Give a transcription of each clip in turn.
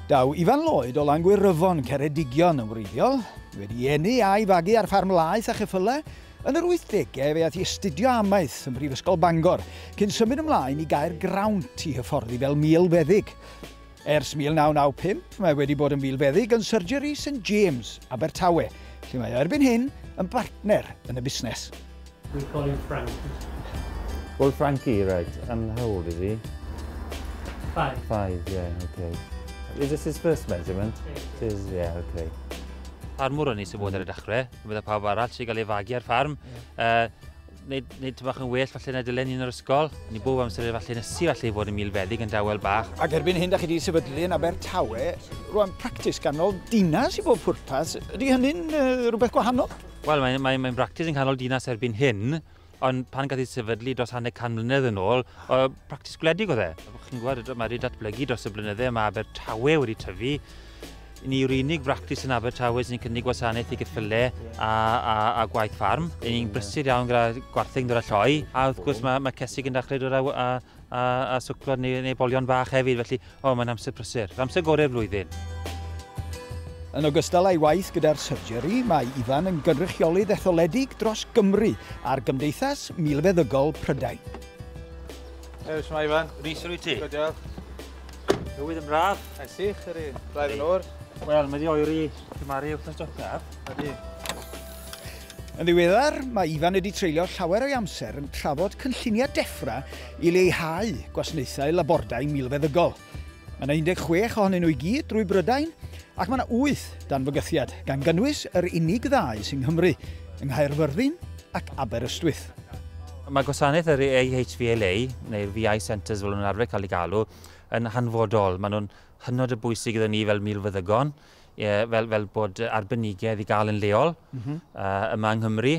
Daw Ifan Lloyd o Langwyryfon, Ceredigion, yn wreiddiol. Wedi eni a'i fagu ar ffarm laeth a cheffylau, yn yr 80au fe aeth i astudio amaeth ym Mhrifysgol Bangor, cyn symud ymlaen i gau'r grawnt i hyfforddi fel milfeddyg. Ers 1995, mae wedi bod yn filfeddyg yn Surgery St James, Abertawe, lle mae o erbyn hyn yn bartner yn y busnes. We call you Frankie. Well, Frankie, right. And how old is he? Five. Five, yeah, okay. Is this his first measurement? It is, yeah, okay. Ffarmwr o'n i sy'n bod ar y dechrau, meddwl pawb arall sy'n cael ei fagu ar ffarm. Yeah. Uh, Nid, nid bach yn well falle na dylen ni'n yr ysgol. Ni bob amser falle nes i falle fod yn milfeddig yn dawel bach. Ac erbyn hyn da chi wedi sefydlu yn Abertawe, rwan practis ganol dinas i bob pwrpas. Ydy hynny'n uh, rhywbeth gwahanol? Wel, mae'n mae, mae practis yn canol dinas erbyn hyn, ond pan gath ei sefydlu dros hanner can mlynedd yn ôl, o practis gwledig oedd e. Chi'n gwybod, mae wedi datblygu dros y blynydde, mae Abertawe wedi tyfu, Ni yw'r unig fractis yn Abertawe sy'n cynnig gwasanaeth i geffylau a, a, a gwaith ffarm. Yn ni'n brysur iawn gyda gwartheg yn dod â lloi, a wrth gwrs mae, mae cesig yn dechrau dod â, a, a, a swclod neu, neu bolion bach hefyd, felly o, mae'n amser prysur, amser gorau'r flwyddyn. Yn ogystal â'i waith gyda'r surgery, mae Ifan yn gynrychiolydd etholedig dros Gymru ar Gymdeithas Milfeddygol Prydain. Helo, Ifan. Rhys, rwyt ti? Good, Tywydd yn braf. Mae'n sych, yr un. Braidd yn o'r. Wel, mae di oer i gymaru wrth ysdocaf. Ydy. Yn ddiweddar, mae Ifan wedi treulio llawer o'i amser yn trafod cynlluniau Defra i leihau gwasnaethau labordai milfeddygol. Mae yna 16 ohonyn nhw i gyd drwy Brydain ac mae yna 8 dan fygythiad, gan gynnwys yr unig ddau sy'n Nghymru, yng Nghaerfyrddin ac Aberystwyth. Mae gwasanaeth yr AHVLA, neu'r VI Centres fel nhw'n arfer cael ei galw, yn hanfodol. Maen nhw'n hynod o bwysig gyda ni fel milfeddygon, e, fel, fel bod arbenigedd i gael yn leol mm -hmm. uh, yma yng Nghymru,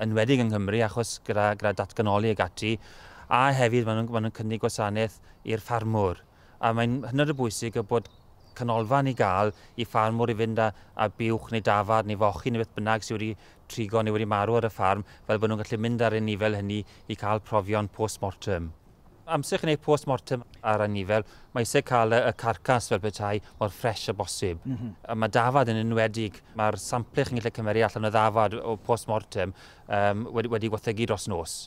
yn wedig yng Nghymru, achos gyda, gyda datganoli ag ati, a hefyd maen nhw'n ma nhw cynnig gwasanaeth i'r ffarmwr. A mae'n hynod o bwysig y bod canolfan i gael i ffarmwr i fynd a, a buwch neu dafarn neu fochyn neu beth bynnag sydd wedi trigo neu wedi marw ar y ffarm, fel bod nhw'n gallu mynd ar ei nifel hynny i cael profion post-mortem. Amser chi'n gwneud post-mortem ar ei nifel, mae eisiau cael y, y carcas fel petai mor ffres â bosib. Mm -hmm. A mae dafad yn enwedig, mae'r samplu chi'n gallu cymeru allan o ddafad o post-mortem um, wedi, wedi wathegu dros nos.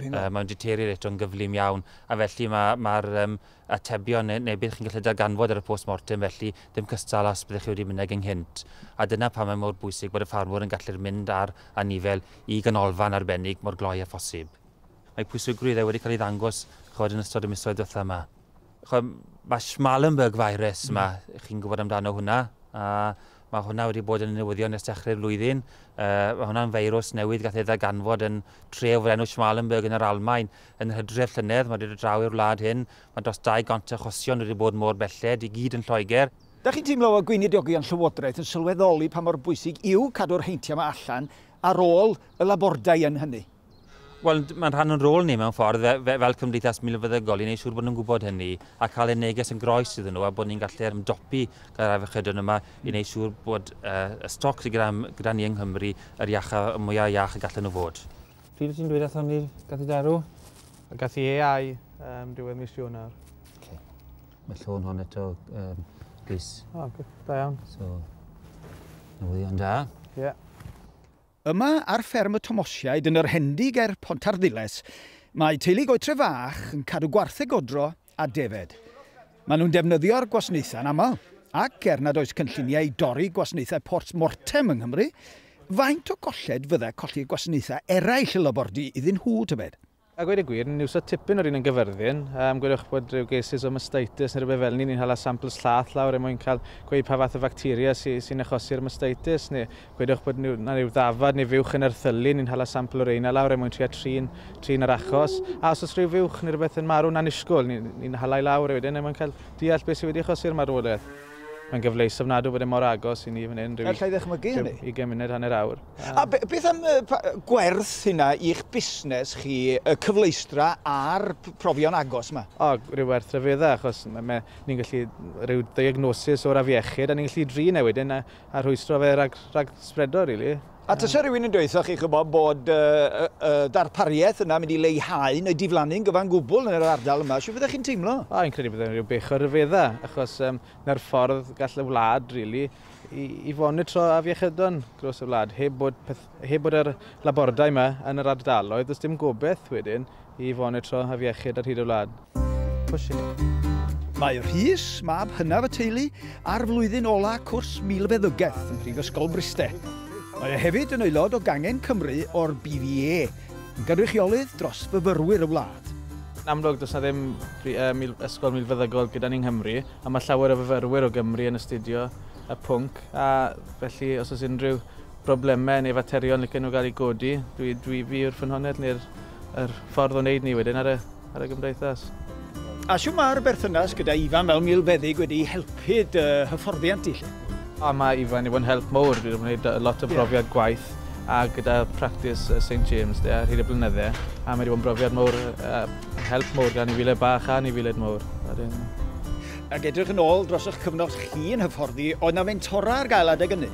Mae o'n deteriorate o'n gyflym iawn, a felly mae'r ma, ma um, atebion neu, neu beth chi'n gallu darganfod ar y post-mortem felly ddim cystal os byddwch chi wedi mynd ag ynghynt. A dyna pam mae mor bwysig bod y ffarmwr yn gallu'r mynd ar anifel i ganolfan arbennig mor gloi a phosib. Mae pwysigrwydd e wedi cael ei ddangos chod yn ystod y misoedd diwethaf yma. Mae Schmallenberg virus yma, chi'n gwybod amdano hwnna, a mae hwnna wedi bod yn newyddion ers dechrau'r flwyddyn. Mae hwnna'n feirws newydd gath ei ddarganfod yn tref o'r enw Schmallenberg yn yr Almaen yn yr hydref llynedd. Mae wedi dod draw i'r wlad hyn. Mae dros 200 achosion wedi bod mor belled, i gyd yn Lloegr. Dach chi'n teimlo fod gweinidiogi a'n llywodraeth yn sylweddoli pa mor bwysig yw cadw'r heintiau yma allan ar ôl y labordai yn hynny? Wel, mae'n rhan o'n rôl ni mewn ffordd fe, fe, fel cymdeithas milfeddygol i wneud siŵr bod nhw'n gwybod hynny a cael ei neges yn groes iddyn nhw a bod ni'n gallu ymdopi gyda'r afiechydon yma i wneud siŵr bod uh, y stoc sydd gyda, gyda ni yng Nghymru yr iach a mwyaf iach y gallen nhw fod. Pryd wyt ti'n dweud athon ni'r gath darw? Y gath i eau um, diwedd mis Ionar. Okay. Mae llôn hon eto um, gris. O, oh, da iawn. So, newyddion da. Ie. Yeah. Yma ar fferm y Tomosiaid yn yr Hendy ger Pontarddulais, mae teulu Goetre Fach yn cadw gwartheg godro a defaid. Maen nhw'n defnyddio'r gwasnaethau'n aml, ac er nad oes cynlluniau i dorri gwasnaethau post mortem yng Nghymru, faint o golled fyddai colli gwasanaethau eraill y labordy iddyn nhw, tybed? A gweud y gwir, ni'n iwso tipyn o'r un yn Gyfyrddin. Um, gwelwch bod rhyw gesus o mastitis neu rhywbeth fel ni, ni'n hala samples llath lawr er mwyn cael gweud pa fath o facteria sy'n sy achosi'r mastitis, neu gwedwch bod yna rhyw ddafad neu fuwch yn erthylu, ni'n hala sampl o reina lawr er mwyn tria trin, trin yr achos. A os oes rhyw fuwch neu rhywbeth yn marw'n annisgwyl, ni'n ni, ni halai lawr e wedyn er mwyn cael deall beth sydd wedi achosi'r marwolaeth. Mae'n gyfleus ofnadw bod e mor agos i ni fan hyn, rhyw... Alla i ddychmygu hynny. ...ugain munud, hanner awr. A beth am gwerth hynna i'ch busnes chi, y cyfleustra a'r profion agos yma? O, rhyw werth rhyfeddau, achos ni'n gallu rhyw ddiagnosis o'r afiechyd, a ni'n gallu drin e wedyn a, a rhwystro fe rhag, rhag spredo, rili. Really. A tysa rhywun yn dweud chi chybod bod uh, uh, darpariaeth yna mynd i leihau neu diflannu'n gyfan gwbl yn yr ardal yma, sy'n fyddech chi'n teimlo? O, i'n credu bod e'n rhyw bech o ryfeddau, achos um, na'r ffordd gall y wlad, really, i, i fonitro afiechydon dros y wlad, heb bod, peth, heb bod yr labordai yma yn yr ardaloedd, does dim gobeith wedyn i fonitro afiechyd ar hyd y wlad. Mae Rhys, mab hynaf y teulu, ar flwyddyn ola cwrs milfeddygaeth ym Mhrifysgol Bryste. Mae e hefyd yn aelod o gangen Cymru o'r BVA, yn gynrychiolydd dros fyfyrwyr y wlad. Yn amlwg, does na ddim ysgol milfeddygol gyda ni yng Nghymru. a mae llawer o fyfyrwyr o Gymru yn astudio y pwnc, a felly os oes unrhyw broblemau neu faterion licen nhw gael eu godi, dwi, dwi fi yw'r ffynhonnell neu'r yr ffordd o wneud ni wedyn ar y, ar y gymdeithas. A shwt mae'r berthynas gyda Ifan fel milfeddyg wedi helpu dy hyfforddiant di 'lly? O, mae Ifan wedi bod yn help mowr, dwi wedi gwneud lot o brofiad gwaith a gyda practis Saint James de ar hyd y blynydde, a mae wedi bod yn brofiad mowr, a Mae'n help mowr gan anifeiliaid bach a anifeiliaid mowr. Ac edrych yn ôl dros eich cyfnod chi yn hyfforddi, oedd na fentora ar gael adeg ynny?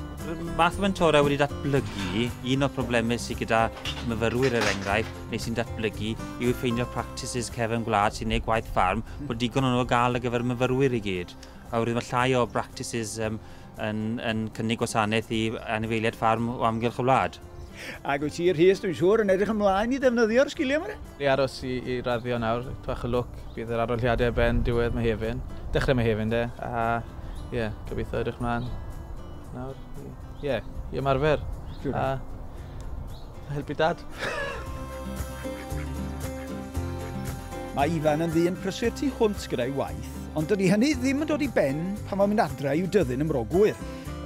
Math o fentora wedi datblygu, un o'r problemau sydd gyda myfyrwyr er enghraifft, neu sy'n datblygu, yw ffeindio practices cefn gwlad sy'n ei gwaith ffarm, bod digon o'n nhw gael ar gyfer myfyrwyr i gyd. Oherwydd mae llai o practices um, yn, yn cynnig gwasanaeth i anifeiliaid ffarm o amgylch y wlad. Ac wyt ti, Rhys, dwi'n siŵr, yn edrych ymlaen i ddefnyddio'r sgiliau yma? Ni aros i, i raddio nawr, twach y lwc, bydd yr arolliadau ben diwedd Mehefin, dechrau Mehefin de, a ie, yeah, gobeithio edrych ymlaen nawr, ie, yeah, i ymarfer. Siwr. A, Helpu dad. Mae Ifan yn ddyn prysur tu hwnt gyda'i waith, ond dydy hynny ddim yn dod i ben pan mae'n mynd adre i'w dyddyn ym Mro Gŵyr.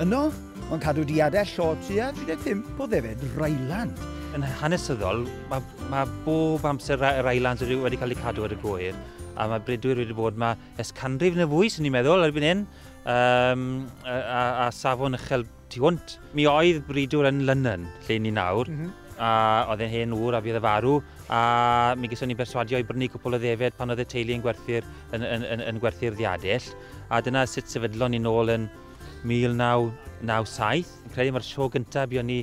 Yno, mae'n cadw diadell llaw tua 35 o ddefed Ryland. Yn hanesyddol, mae, mae bob amser y Rylands wedi, wedi cael eu cadw ar y gŵyr, a mae bredwyr wedi bod yma es canrif neu fwy, sy'n ni'n meddwl, erbyn hyn, um, a, a, a safon uchel tu hwnt. Mi oedd Bridwr yn Lunnon, lle ni nawr, a oedd e'n hen ŵr a bydd y farw, a mi gyson ni berswadio i brynu cwpl o ddefed pan oedd y teulu yn gwerthu'r, yn, yn, yn, yn gwerthu'r ddiadell, a dyna sut sefydlon ni nôl yn 1997. Yn credu mae'r sio gyntaf buon ni,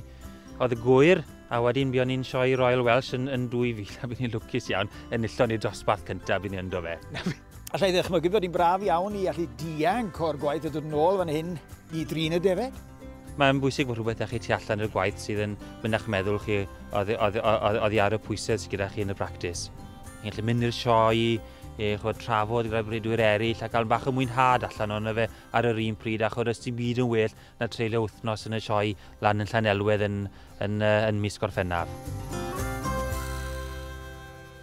oedd y gwyr, a wedyn buon ni'n sioe Royal Welsh yn, yn 2000, a bydd ni'n lwcus iawn, enillon ni dosbarth cyntaf bydd ni ynddo fe. Alla i ddychmygu fod hi'n braf iawn i allu dianc o'r gwaith a dod yn ôl fan hyn i drin y defaid. Mae'n bwysig bod rhywbeth â chi tu allan i'r gwaith sydd yn mynd â'ch meddwl chi oddi ar y pwysedd sydd gyda chi yn y practis. Chi'n gallu mynd i'r sioe, e, chod, trafod gyda bredwyr eraill a cael bach o mwynhad allan o'n fe ar yr un pryd a chod ysdi byd yn well na treulio wythnos yn y sioe lan yn Llanelwedd yn, yn, yn, yn mis Gorffennaf.